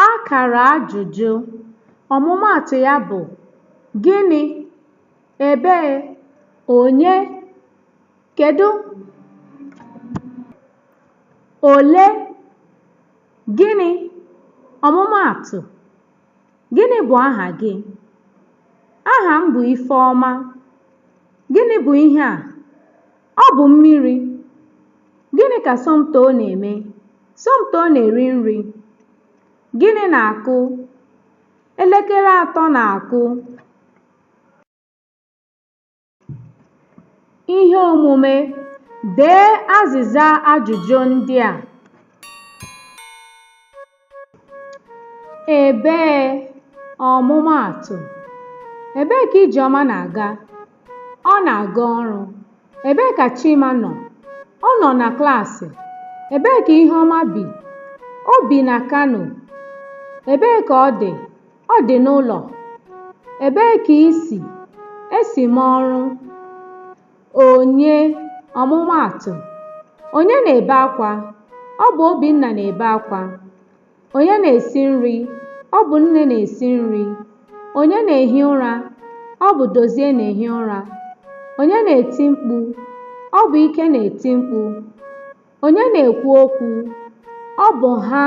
Akara ajụjụ, ọmụmaatụ ya bụ gịnị, ebee, onye, kedu, ole, gịnị, ọmụmaatụ, gịnị bụ aha gị? Aha m bụ Ifeọma. Gịnị bụ ihe a? Ọ bụ mmiri. Gịnị ka Somtoo na-eme? Somtoo na-eri nri. Gịnị na-akụ? Elekere atọ na-akụ. Ihe omume, dee azịza ajụjụ ndị a. Ebee ọmụmaatụ Ebee ka Ijeọma na-aga? Ọ na-aga ọrụ. Ebee ka Chima nọ? Ọ nọ na klaasị. Ebee ka Iheọma bi? O bi na Kano. Ebee ka ọ dị? Ọ dị n'ụlọ. Ebee ka i si? Esi m ọrụ. Onye, ọmụmaatụ, Onye na-ebe akwa? Ọ bụ Obinna na-ebe akwa. Onye na-esi nri? Ọ bụ nne na-esi nri. Onye na-ehi ụra? Ọ bụ Dozie na-ehi ụra. Onye na-eti mkpu? Ọ bụ Ike na-eti mkpu. Onye na-ekwu okwu? Ọ bụ ha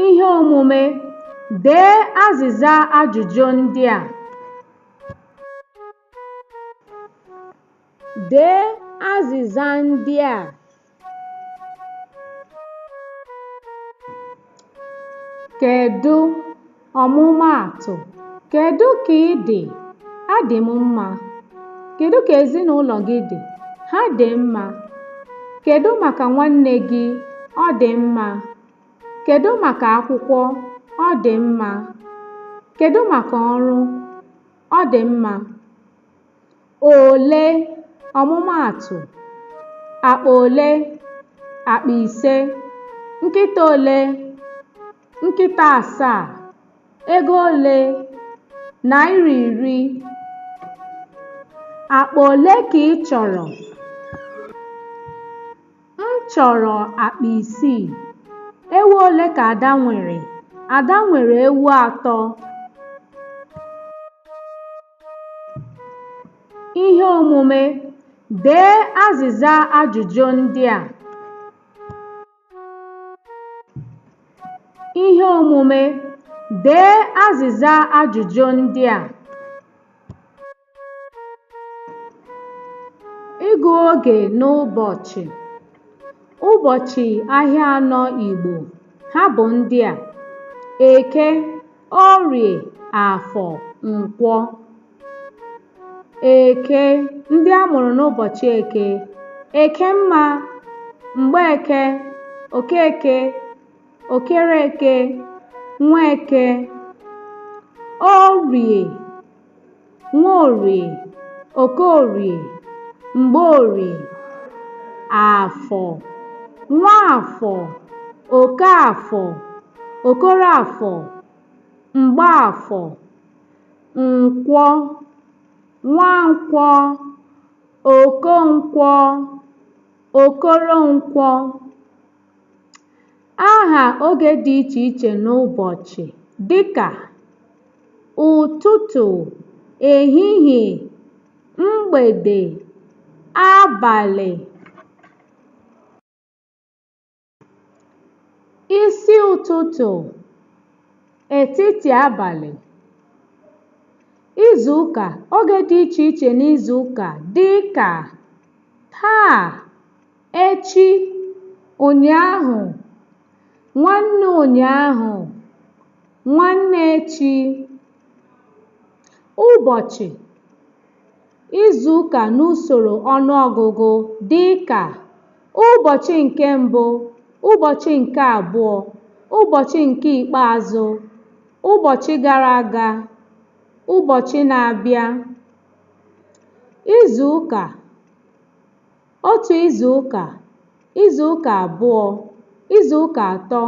Ihe omume: Dee azịza ajụjụ ndị a. Dee azịza ndị a. Kedụ? Ọmụmaatụ, Kedụ ka ị dị? Adị m mma. Kedụ ka ezinụlọ gị dị? Ha dị mma. Kedụ maka nwanne gị? Ọ dị mma. Kedụ maka akwụkwọ? Ọ dị mma. Kedụ maka ọrụ? Ọ dị mma. Ole? Ọmụmaatụ, Akpa ole? Akpa ise. Nkịta ole? Nkịta asaa, ego ole? Naira iri. Akpa ole ka ị chọrọ? M chọrọ akpa isii. Ewu ole ka Ada nwere? Ada nwere ewu atọ. Ihe omume, dee azịza ajụjụ ndị a. Ihe omume: Dee azịza ajụjụ ndị a. Ịgụ oge n'ụbọchị. Ụbọchị ahịa anọ Igbo, ha bụ ndị a: Eke, Orie, Afọ, Nkwọ. Eke, ndị a mụrụ n'ụbọchị Eke. Ekemma, Mgbeke, Okeke, Okereke, Nweke. Orie, Nwaorie, Okorie, Mgbeorie. Afọ, Nwaafọ, Okaafọ, Okoroafọ, Mgbaafọ. Nkwọ Nwankwọ Okonkwọ Okoronkwọ Aha oge dị iche iche n'ụbọchị dịka ụtụtụ, ehihie, mgbede, abalị. isi ụtụtụ etiti abalị izu ụka oge dị iche iche n'izu ụka dị ka taa echi ụnyaahụ nwanne ụnyaahụ nwanne echi ụbọchị Izuụka n'usoro ọnụọgụgụ dị ka, ụbọchị nke mbụ, ụbọchị nke abụọ, ụbọchị nke ikpeazụ, ụbọchị gara aga, ụbọchị na-abịa. Izuụka, otu izuụka, izuụka abụọ, izuụka atọ,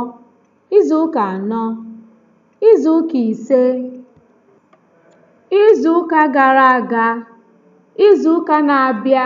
izuụka anọ. Izuụka ise, izuụka gara aga, izuụka na-abịa.